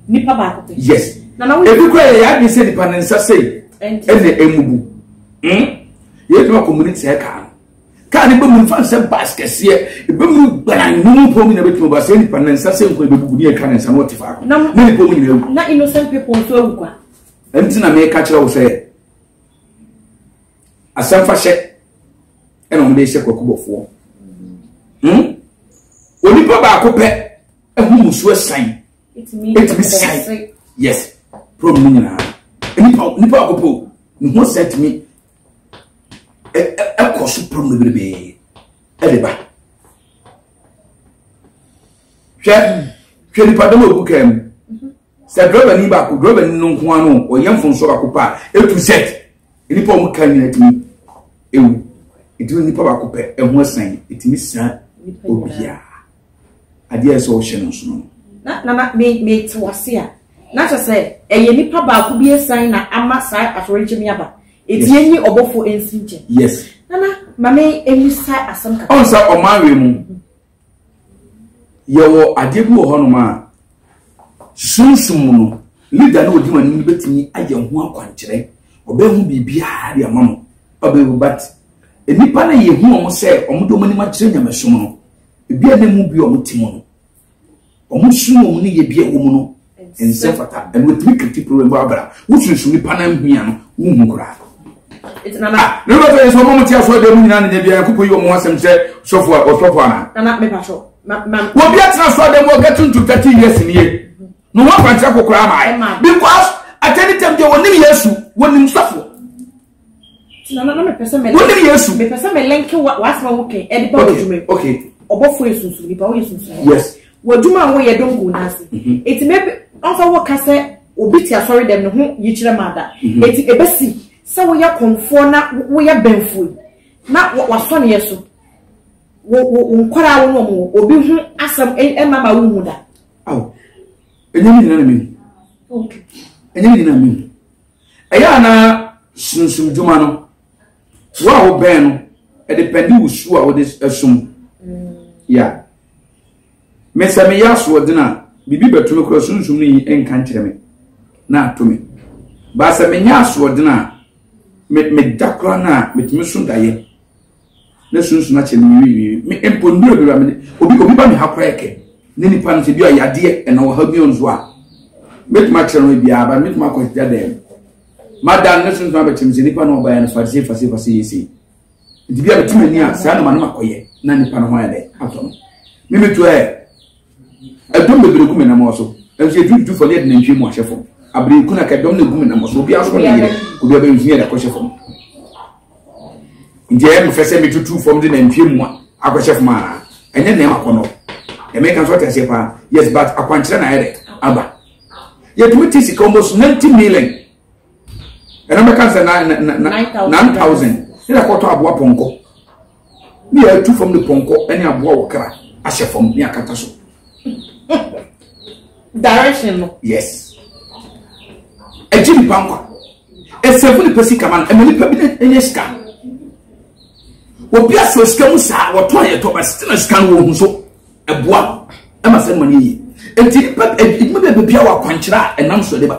nipa baako pɛ. yes ebi kura yɛ yɛn adwene sɛ nipa ne nsa sei ɛna emubu hmm yɛn tuma community sɛ kaa no kaa ne bɛmu nfa nsɛ baas kɛseɛ ebɛmu gbana numu pɔm nyina bɛtuma baas yɛ nipa ne nsa sɛ nkɔ ebebubu ne ɛtwa ne nsa na ɔte faako na ne pɔm nyina ewu. na innocent people nso ewu kwa. ɛnti na mɛka kyerɛ wo sɛ asɛmfahyɛ ɛna wɔn de hyɛ kɔkɔbɔfoɔ hmm onipa baako pɛ. ɛho musuo ɛsan ɛtumi san yes problem no nyinaa nipa nipa akɔpɔ ne ho sɛ ɛtumi ɛkɔ so problem bebrebe ɛde ba hwɛ hwɛ nipa dɛm a ogu kaa mu. Sɛ drɔbani baako, drɔbani no nko ara no, ɔyɛ mfonso baako pɛ a, etu sɛt. Nnipa a wɔn ka nyinaa tumi ewu. Eti nnipa baako pɛ, ɛho asan, etumi sira obiara. Adeɛ a ɛsɛ ɔhyɛ no nso no. Na na ma me me te wase a. Na kyerɛ sɛ ɛyɛ nipa baako bi esan na ama saa atorenkyɛm yi aba. Eti enyi ɔbɔfo ensi nkyɛn. Yes. Nana ma me emisa asɛm kakra. Ɔn sɛ ɔman wei mu, Yɛwɔ adeɛ bi wɔ hɔnom a sunsum mu no leader no ɔdi wɔn anim no bɛtumi ayɛ ho akwankyerɛ ɔbɛhu biribiara de ama mo ɔbɛhu but nnipa no yɛhu wɔn sɛ wɔn de wɔn anim akyerɛ nyamesom no ebi a na mu bi wɔn ti mu no Wɔn sunom ne yɛdeɛ a ɛwɔ mu no nsɛ fata, ɛno ɛtumi ka ti pere wɔ abira. Wosunsum nipa nan ho a no, wonhu koraa. Nana. Ah, ne bɛ fɛ yɛ sɛ ɔmo mo te asɔ ɛdɛm nyinaa ne nyɛ biara koko yi ɔmo asɛm sɛ sɔfo a ɔsɔfo ana. Nana me patro. Wɔ bi atena asɔ ɛdɛm wɔ gɛtu ntu tati yɛ sinie. No ho akwankyerɛ kokoraa maa yɛ. Because atɛni tɛm deɛ wɔnim Yesu, wɔnim sɔfo. wone yesu mepɛ sɛ melenke w'asɛm a woka ɛde ba w'adwuma mu ɔbɔfoɔ yɛ sunsum nipa woyɛ sunsum yes w'adwuma a woyɛ dɔm gu n'ase eti mɛ ɔnfa woka sɛ obi te asɔre dɛm ne ho yikyerɛ ma ada eti ebesi sɛ woyɛ kɔnfoɔ na woyɛ bɛnfoɔ yi na wasɔ ne yɛ so wo wo nkɔraa wo nom obi ho asɛm ɛma ma wo mu da. awo ɛnyɛ ne nyinaa na mi hu ɛnyɛ ne nyinaa mi hu. Ɛyɛ a na sunsum dwuma no, wo a wobɛn no, ɛde pɛnde wo su a wode ɛsom. Ya. Me sɛ meyɛ asoɔden a, biribi bɛto me kora sunsum no yi nka nkyerɛ me na ato me. Ba sɛ menyɛ asoɔden a, meda kora no a, metumi so dayɛ. na sunsun akyɛ me wiwiwi me mpo nnuro bi ba me obi obi ba me ha koraa kɛ ne nipa no sɛ bi a yadeɛ ɛna wɔ ha bi nso a mɛtumi akyerɛ no bi a ba mɛtumi akɔ gya dɛm madan ne sunsun abɛkyɛ me sɛ nipa no ɔbaeɛ no fase fase fase yɛ sei nti bi a mɛtumi ani a saa na ma no makɔyɛ na nipa no ho ayɛ dɛ atɔ no me metu ɛ ɛdɔm bebree gu me namɔ so nso yɛdwudwu fam yɛde nantwie mu ahyɛ fam abere kuna ka ɛdɔm na gu me namɔ so obiara so ne yere obiara bɛyɛ nsunyɛ de akɔhyɛ fam nti ɛyɛ mefɛ sɛ metutu fam de nantwie mu a akɔhyɛ fam ara ɛnyɛ nɛɛma akɔ no ɛmɛ kan so ɔte aseɛ paa yes but akwankyerɛ na ayɛ dɛ aba yɛtumi te sika wɔn so ninety million ɛna mɛka sɛ na na na nine thousand ne yɛ kɔtɔ aboa pɔnkɔ ne yɛ atu fam ne pɔnkɔ ɛne aboa wɔ kra ahyɛ fam ne akata so. direction no. yes ɛgye nipa nkwa ɛsɛfo nipa sika ma no ɛma nipa bi ɛnyɛ sika obi asɔ sika mu saa wɔtɔ ayɛ tɔ ba sitina sika no wɔn ho so ɛboa ɛma sɛ ɛma no yie nti nipa ɛdwuma bɛɛ bɛbi a wɔ akwankyerɛ a ɛnam so ɛde ba.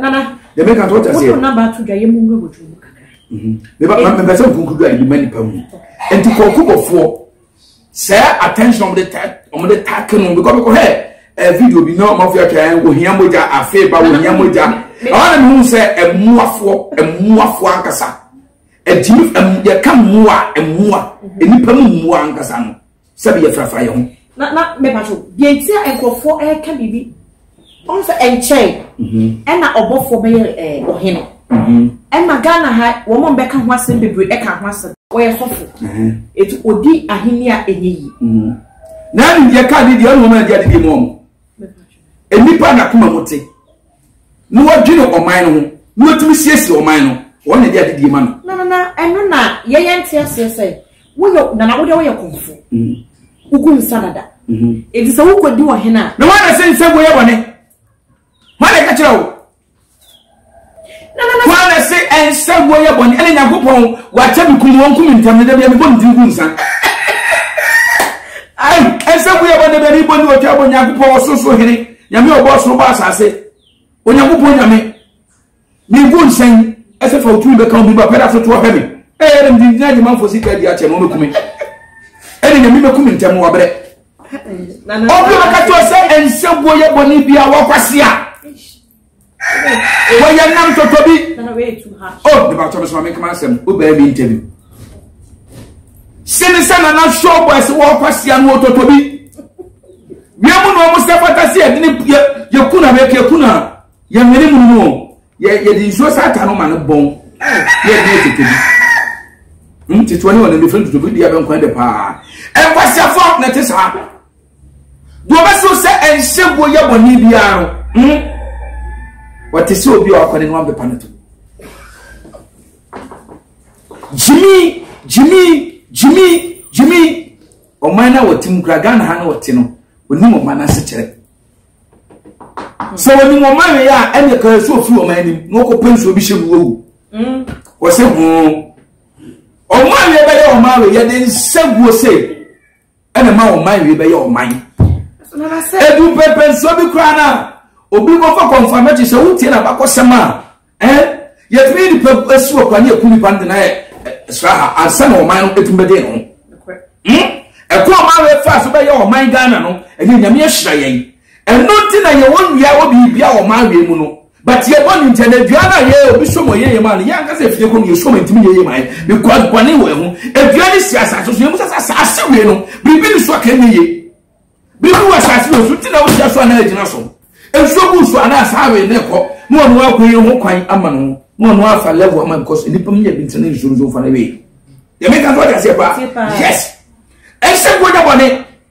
nana yɛmɛ ka tɔ tase. wotu naba ato dwa yɛ mu nwura wɔ dwuma mu kakra. meba ma mɛ sɛ nkunkudu a yɛde ma nipa mu nti kɔɔko bɔfoɔ sɛ attention ɔmo de ta ɔmo de ta ke no bikɔ bikɔ hɛ ɛɛ video bi na ɔmo afɔ atwa yɛn ohia mogya afei ba ohia mogya ɔmo na mi hu sɛ ɛmuafoɔ ɛmuafoɔ ankasa ɛgyimi ɛmu yɛ ka mua ɛmua nipa mu mua ankasa no. Sɛbi yɛ frafra yɛ ho. Na na mɛpatwo deɛ nti a nkurɔfoɔ ɛreka biribi ɔno sɛ ɛnkyɛe mhm. ɛna ɔbɔfoɔ bɛyɛ ɛɛ ɔhene mhm. ɛma Ghana ha wɔn a bɛka ho asɛm bebree ɛka ho asɛm ɔyɛ sɔfo mhm. etu odi ahene a ɛnyɛ yi. na ɛnu deɛ kaa ne deɛ ɛnu wɔn a ɛdi adi deɛ mu wɔn nnipa na kuma mo te. na wadwene ɔman no ho na watumi siesie ɔman no wɔn na ɛde adedie ma no. na na na ɛno na yɛyɛ nte aseɛ sɛ woyɛ nana wodeɛ woyɛ kɔmfo mm. wogu nsa dada ɛti mm-hmm. sɛ wokɔdi wɔ hene a na woana sɛ nsɛ woyɛ bɔne woana ɛka kyerɛ wo woana se ɛnsɛ woyɛ bɔne ɛne nyankopɔn wakyɛ me kum wɔnkum ntam no da bia mebɔ ne tiri gu nsa ɛnsɛ woyɛ bɔne bɛne bɔ ne wɔtwa bɔ nyankopɔn ɔsoso hene Nyame a ɔbɔɔ soro bɔɔ asase, Onyankopɔn Nyame, menko nsɛn ɛsɛ fa otumi bɛka obi ba pɛrɛ atoto ɔhwɛ me ɛyɛ dɛm gyingyina adwumanfoɔ sika adi akyɛ no ɔbɛkume ɛne nyame bɛku me ntɛm wabrɛ ɔbi ɔbɛka kyerɛ sɛ ɛnsɛ boɔ yɛ bɔne bi a wakwase a wɔyɛ nam tɔtɔ bi o oh, nipa tɔ mi sɔn mi kama asɛm o bɛɛ mi ntɛbi sini sɛ nana sɔɔ bɔ ɛsɛ wɔn kɔ sia no tɔtɔ bi wia mu na wɔn sɛ pata si ɛdini yɛ yɛ kuna bɛ kɛ kuna yɛ nwene mu mu o yɛ yɛ di nsuo sɛ ata no ma no bɔn yɛ di yɛ tɔtɔ bi ntutu ne wɔn nfiri ntutu bi di abɛnkwan de paa ɛkwasiafo na ti saa. Deɛ ɔbɛsoro sɛ ɛnhyɛ guo yɛ bɔne biara no, hmm? wɔte sɛ obi a wakɔ ne noa bɛpa no to. Gyimi, gyimi, gyimi, gyimi. Ɔman no a wɔte mu kura Ghana ha na wɔte no, onim ɔman no asekyerɛ. Sɛ onim ɔman yɛ a, ɛnna kan so ofiri ɔman anim na ɔkɔ pɛ nsuo bi hyɛ mu wɔwu. Wɔsɛ ho. Ɔman yɛ bɛyɛ ɔman yɛ de nsa guo sɛ. ɛna ma ɔman wie bɛyɛ ɔman edu pɛpɛ nsuo bi koraa na obi kɔfa kɔnfamɛkyi sɛ wotie na bakɔsɛm a ɛn yɛtumi nipa asi wɔ kwan ne yɛku nipa no de na yɛ sra ha ansa na ɔman no ɛtumi bɛde ho ɛkɔ ɔman wei fa so bɛyɛ ɔman ghana no ɛyɛ nyame ahyira yɛn Ɛno nti na yɛwɔ nnua wɔ biribi a wɔma awe mu no but yɛ bɔne nti ɛna dua no a yɛ obi som wɔ yɛyɛ maa no yɛ ankasa efie kɔ no yɛ som ntumi yɛyɛ maa yɛ because bɔne wɔ ɛho edua no si asase so yɛ mu sɛ asase wei no biribi ne so aka nyɛ yie biribi wɔ asase wei so nti na wogyina so anaa agyina so nsuo gu so anaa saa wei na ɛkɔ na ɔno akɔ yɛ ho kwan ama no ho na ɔno afa level ama because nipa mu yɛ bi nti na nsuo nso fa no wei yɛ meka so ɔde aseɛ paa yes ɛsɛ nkonya bɔne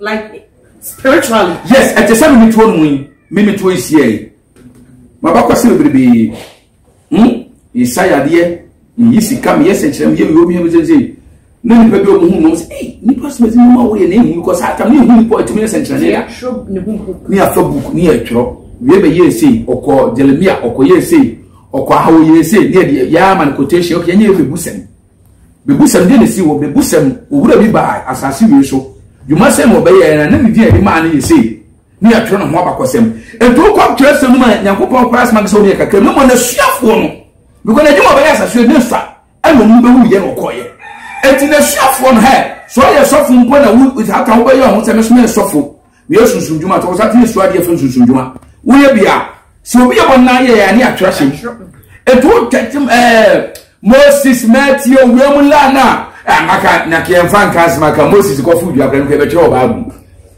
like spiritually. yes ɛte sɛ mimi tuo mu yi mimi tuo yi sie yi mabakɔ se bebrebe hmm nsa yadeɛ yi sika mi yɛ sɛnkyerɛm yɛ mi omi yɛ mi sɛnsɛn ne nipa bi ɔmo hu mu ɔmo sɛ ee nipa sɛ ɛdi mu a wɔyɛ na ehu mi kɔ saa tam ne ehu nipa ɔtumi yɛ sɛnkyerɛm yɛ ne afa book ne yɛ twerɛ wie bɛ yɛ ese ɔkɔ jeremia ɔkɔ yɛ ese ɔkɔ ahawo yɛ ese ne yɛ de yɛ ama no quotation ɔkɛ yɛ nyɛ yɛ fɛ bu sɛm. Bebusɛm, deɛ na ɛsii wɔ Bebusɛm? Owura bi baa asase wei so. Dwuma sɛn na ɔbɛyɛɛ, na na ne din a yɛde maa no yɛ sei, na yɛatwerɛ ne ho abakɔsɛm. Enti wokɔ Atwerɛsɛm no mu a, Nyankopɔn koraa soma no sɛ ɔne yɛ kakra, mmom n'asuafoɔ no, because n'adwuma a ɔbɛyɛ asase wei, ne nsa ɛna ɔmo bɛwuiɛ na ɔkɔeɛ. Enti n'asuafoɔ no, hɛ, sɛ ɔyɛ sɔfo mpo na wo, hata wobɛyɛ ɔho sɛ mɛsoma yɛ sɔfo, Woyɛ sunsum dwuma sɛ wɔsan tumi suadeɛ fo nsunsum dwuma woyɛ bi a sɛ obi yɛ wɔn nan yɛ yɛ ani atwerɛ hyɛ etu tɛtim ɛɛ moses mɛtie owia mu laa na amaka na kɛnfa nka asɛm aka moses kɔfo dua kora no kɔ ɛbɛtwerɛ wɔ baabu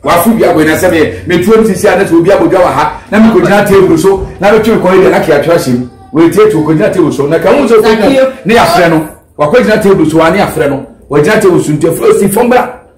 wafo dua kɔ ɛnasɛ meɛ metuo no sisi a na sɛ obi abɔdwa wɔ ha na mekɔgyina table so na bɛtwerɛ kɔ ɛdɛ na kɛ atwerɛ hyɛ mu wɔtie tu kɔgyina table so na ka ho sɛ kɔgyina ne yɛafrɛ no wakɔgyina table so a ne yɛafrɛ no wɔgyina table so nti ɛfo si fam bra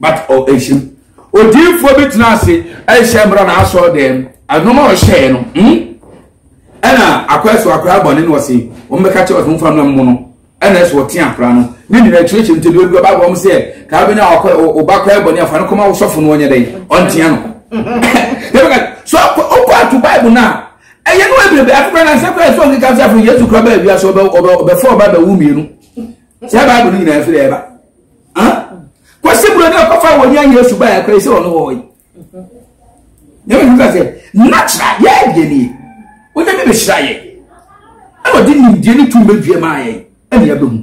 But ɔ ɛnhyɛm. Odiyifoɔ bi tena ase ɛnhyɛ mmra n'asɔre dɛm. Ɛnɔma a ɔhyɛɛ no hmm? Ɛna akɔ ɛso akora abɔne na ɔse wɔn bɛka kyɛ ɔse wɔn fa mmra mu no ɛna ɛso ɔte akora no ne nyina akyerɛkyerɛ nti deɛ ɔdua baabɔ wɔn sɛ kaa bɛnya ɔba kora abɔne afa no kɔma wosɔfo no ɔnyɛ dɛn ɔntea no so ɔkɔ ato bible no a ɛyɛ no ɛbɛbɛ afofra na nsɛm kora ɛsɛ ɔnkeka sɛ afei yesu kora baa wiase ɔbɛfɔ ɔba bɛwu mmienu sɛ bible no nyinaa ɛfiri ɛba kɔsi buro ne ɔkɔfa wɔn nya yesu ba yɛ kɔɛ sɛ ɔno wɔ yi nyɛ mi nka sɛ nakyira yɛ ɛdeɛ ni wogya mi bɛhyira yɛ ɛna ɔde nimdeɛ ne tum bɛdua maa yɛ ɛna yɛ bɛ mu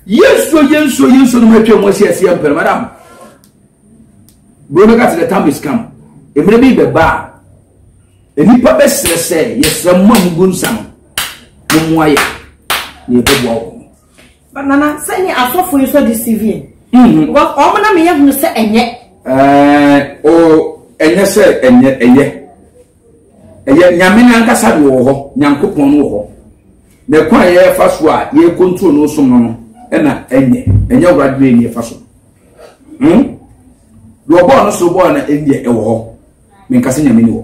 yesu yesu yesu no mu atwa mu asi asi yɛ mpɛrɛ madam buro no ka sɛ the time is come mmerɛ bi bɛ ba a nipa bɛ srɛ sɛ yɛ srɛ mu a mu gu nsa no mo mu ayɛ yɛ bɛ bɔ wɔn. But nana sɛ nye asɔfo yi so deceiving. Mm-hmm. Because ɔmo na meyɛ hunu sɛ ɛnyɛ. Ɛɛ eh, o ɛnyɛ sɛ ɛnyɛ ɛyɛ ɛyɛ nyame n'ankasa de wɔ hɔ nyankopɔn no wɔ hɔ na ɛkwan a yɛfa so a yɛ control no som no no ɛna ɛnyɛ ɛnyɛ awurade na ɛnyɛ fa so hmm deɛ ɔbɔɔ no so bɔɔ na ɛnyɛ ɛwɔ hɔ menkasa nyame ni wɔ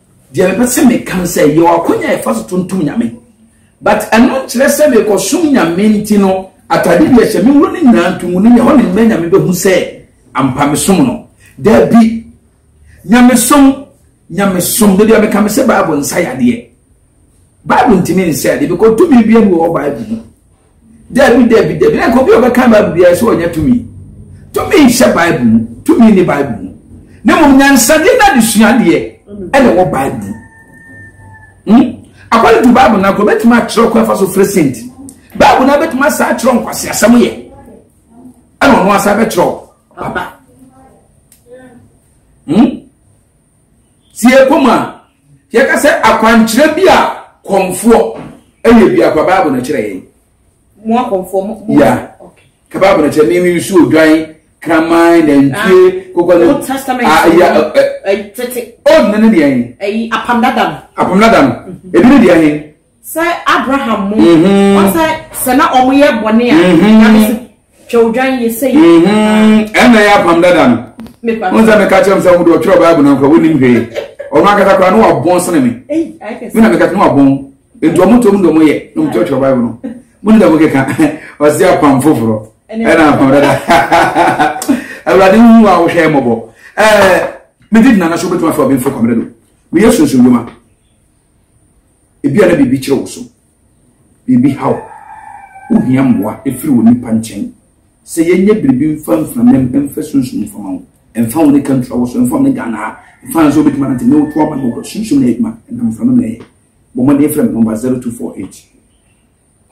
Deɛ mepɛ sɛ meka no sɛ yɛwɔ akwan a yɛfa so tontom Nyame but ɛno nkyerɛ sɛ mekɔsom Nyame nti no atade bi ɛhyɛ me wuro no nyinaa nto mu no yɛ hɔ ne mmerɛ Nyame bɛhu sɛ ampa mesom no daabi nyamesom nyamesom da bi a meka me sɛ Bible nsa yadeɛ Bible ntumi nsa yadeɛ because tumi bi ɛmu wɔ Bible mu dabi dabi dabi na nka obi a ɔbɛka bible biara sɛ ɔnyɛ tumi tumi nhyɛ bible mu tumi ne bible mu na mmom nyansadeɛ no adesuadeɛ ɛna ɛwɔ bible mu hmm? akɔle tu bible no akɔ bɛtumi akyerɛ kwan fa so fere senti bible no abɛtumi asa akyerɛ nkwasi asɛm yɛ ɛna ɔno asa bɛkyerɛ aba hmm? Tie komm a yɛka sɛ akwankyerɛ bi a kɔmfoɔ yɛ biako a Bible no kyerɛ yɛn. Mo akɔmfoɔ mo. Ya. Ka Bible no kyerɛ me me nsuo dwan kraman nantwie ah, kokɔ no. Old Testament. Ah, ya. Eh, eh. Tete. Old no ne deɛ yɛn. Apam dada no. Apam dada no. Mhm. Ebi ne deɛ yɛn. Sɛ Abraham mo, ɔsɛ sɛ na ɔmo yɛ bɔne a, nyame se twɛ odwan yɛ sɛ yɛ. Ɛna yɛ apam dada no. Wọn sɛ meka kyerɛ m sɛ wọn de ɔtwerɛ Bible na nkora wɔnim hwee. Ɔno akasa koraa na wabɔn sene me. Me na meka kyerɛ na wabɔn. Nti ɔmo tom de ɔmo yɛ na ɔmo kyerɛkyerɛ Bible no. Mo ne dɛm keka ɔsi apam foforɔ ɛna apam dada. Awurade hu wa wohwɛ mmɔbɔ. Ɛɛ me di nana so betuma fɛ ɔbɛnfo kɔmɛdɛ do. Me yɛ sunsun dwuma. Ebia na biribi kyere wo so, biribi haw wo, wohia mmoa firi onipa nkyɛn. Sɛ yɛnyɛ biribi mfa mfira mem, mfa sunsum mfa ma wo, mfa wo ne ka ntura wo so, mfa wo ne Ghana ha, mfa nso wobɛtumi anante ne wo to ama no, sunsum na yɛ adwuma, ɛnam mfira mem na yɛ. Bɔ mmɔden frɛ me nɔmba 0248.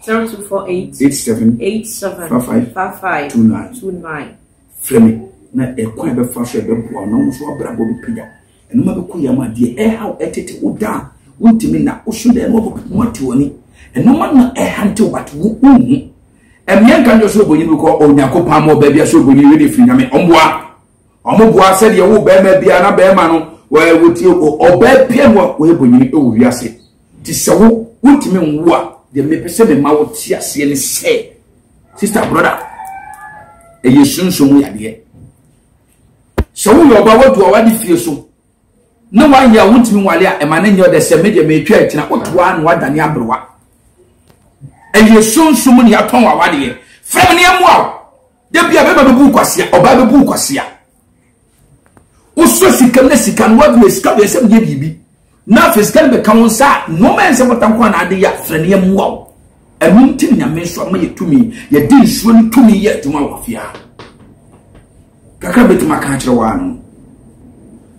zero two four eight eight seven eight seven five five five five two nine two nine. frɛ me na ɛkwan a ɛbɛfa so ɛbɛboa na ɔno nso abrabɔ bi pagya ɛno ma bɛkɔ yam adeɛ ɛha ɛtete wo da a wontumi nna woso dɛ ɛno ɔbɔ bɛpoma te w'ani ɛno ma na ɛha nte wo bate wo nhu ɛmeɛ nka nkyɛ so obonyi bi kɔ onyankopɔn ama ɔbaa bi asɛ obonyi wei de firi nyame ɔmboa ɔmoboa sɛdeɛ wo bɛrima bia na bɛrima no wɔtie ɔbaa bia no a wɔyɛ bonyini ɛwɔ wiase Nti sɛ wo wontumi nwo a deɛ mepɛ sɛ mema wo te aseɛ ne sɛ sister brother ɛyɛ sunsun mu yadeɛ sɛ woyɛ ɔba wadu a wade fie so na wayɛ a wontumi nwale a ɛma ne nyɛ ɔdɛ sɛ medeɛ metwa akyina wotoa na wadane aberewa ɛyɛ sunsun mu ne yɛatɔn wawadeɛ frɛ me ne ɛmoa wo da bi a bɛma bɛbu wo kwasea ɔbaa bɛbu wo kwasea wosɔ sika na sika no woaduru sika deɛ sɛ meyɛ biribi na afei sika no bɛka wo nsa a nnoɔma ɛnsɛ bɔta nko a na ade yɛ afrɛ no yɛmmoa wo ɛno nti ne nyame nso ama yɛ tumi yɛde nsuo no tumi yɛ adwuma wɔ afia kakra bɛtumi aka akyerɛ wɔ ano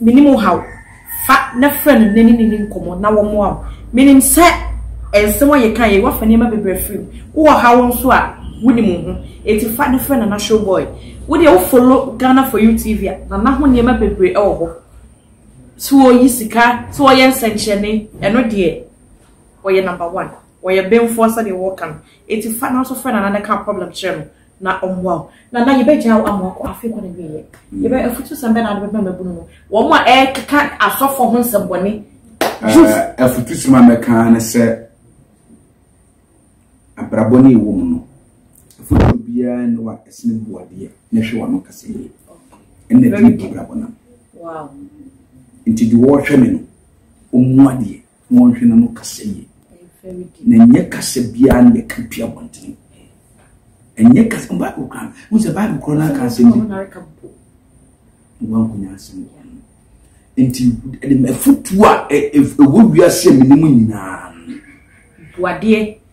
Menim wo haw. Fa na frɛ no na ne ne ni nkɔmmɔ na wɔmmoa wo. Menim sɛ nsɛm a yɛkaeɛ yi, woafa nneɛma bebree afiri mu. Wowɔ ɔhaw nso a, wonim wo ho. Enti fa na frɛ Nana Showboy. Wo deɛ wo follow Ghana for you TV a, Nana ho nneɛma bebree wɔ hɔ. Sɛ ɔyi sika, sɛ ɔyɛ nsɛnkyerɛnne, ɛno deɛ ɔyɛ number one. Ɔyɛ benfoɔ sɛdeɛ wɔka no. Enti fa na nso frɛ Nana na ka wo problem kyerɛ no. na ɔmmoa wo. Nana, yɛbɛgyaa wo ama wakɔ afei kɔ n'awieeɛ. Yɛbɛ afutusɛm bɛn na wode bɛma mmabunu no? Wɔn a ɛkeka asɔfoɔ ho nsɛmmɔne. Jus. Eh, afutusɛm a mɛka ne sɛ abrabɔ ne ɛwɔ mu no afutuo biara ne wa ɛsene boadeɛ na hwɛ wano kasa yie ɛna ɛtumi bu abrabɔ nam nti de wɔrehwɛ me no ɔmmu adeɛ Monhwɛ na no kasa yie. Na ɛnyɛ kasa biara na yɛka pia abɔntene. Ɛnyɛ kasa Bible kora. Mo sɛ Bible kora no aka asɛm bi. Wankonya asɛm wɔ no. Nti ɛde afutuo a ɛwɔ wiase a menim nyinaa. Boadeɛ.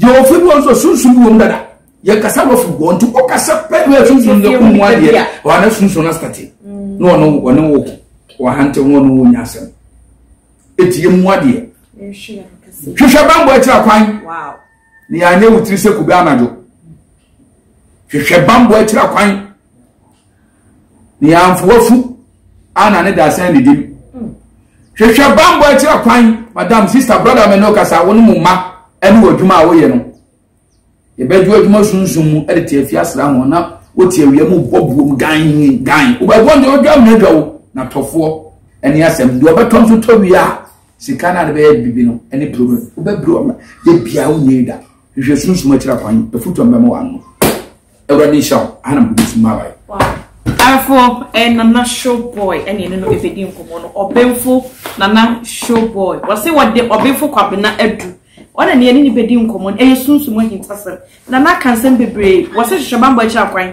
Yɛwɔ ofi bi wɔ nso sunsun bi wɔ mu dada yɛn kasa wɔ fi wɔ nti wɔ kasa pɛ na sunsun yɛ kun mu adeɛ wɔn ana sunsun asitati na wɔn mm. wɔn wɔ wɔn hante wɔn wɔ nyɛ asɛm eti yɛ mu adeɛ hwehwɛ bambɔ akyira kwan na yɛn anyɛ wotiri sɛ kube anadwo hwehwɛ bambɔ akyira kwan Nea mfowafu ana ne dasɛn ne dim. Hwehwɛ bambɔ akyira kwan, madam, sister, brother me ne okasa wo ne mo mma ɛne wɔ adwuma a woyɛ no. Yɛbɛdwo adwuma sunsun mu ɛde te afia sra ho na wote awia mu bɔ buom gan gan. Wobɛbɔ ne odwa mu adwa wo na tɔfoɔ ɛne asɛm deɛ ɔbɛtɔ nso tɔ wie a sika no a de bɛyɛ bibi no ɛne problem wobɛbiri ɔma yɛ biara wo nyɛ da hwehwɛ sunsun akyira kwan afutuo mbɛma wɔ ano. Awurade nhyira wo. Aha na mede bɛsi mmaabae. Afo eh, Nana Showboy ɛne ɛne no ɛbɛdi nkɔmmɔ no ɔbenfo Nana Showboy wɔse wɔde ɔbenfo Kwabena adu ɔna ne ɛne ne bɛdi nkɔmmɔ no ɛyɛ sunsum ahintasɛm Nana aka nsɛm bebree wɔse hwehwɛ bambɔ akyiri akwan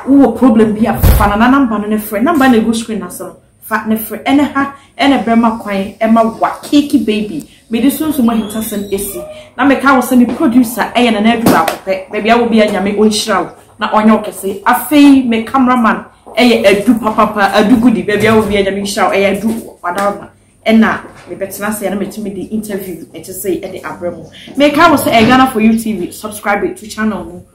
wowɔ problem bi a fa Nana namba no ne frɛ namba na ɛgu screen ase no Fa ne fre ɛne ha ɛna bɛma kwan ɛma wa keke baby mede sunsum ahintasɛm ɛsi na meka wo sɛ me producer ɛyɛ nana adu baako pɛ baabi a wɔ bia nyame ɔnhyira wo na ɔnyɛ wo kɛse afei me camera man ɛyɛ adu papapa adu gudi baabi a wɔ bia nyame nhyira wo ɛyɛ adu wadarma ɛna mebɛtena ase ɛna metumi de interview ɛte sɛ ɛde abrɛ mu meka wo sɛ ɛyɛ Ghana for you tv subscribe to channel mu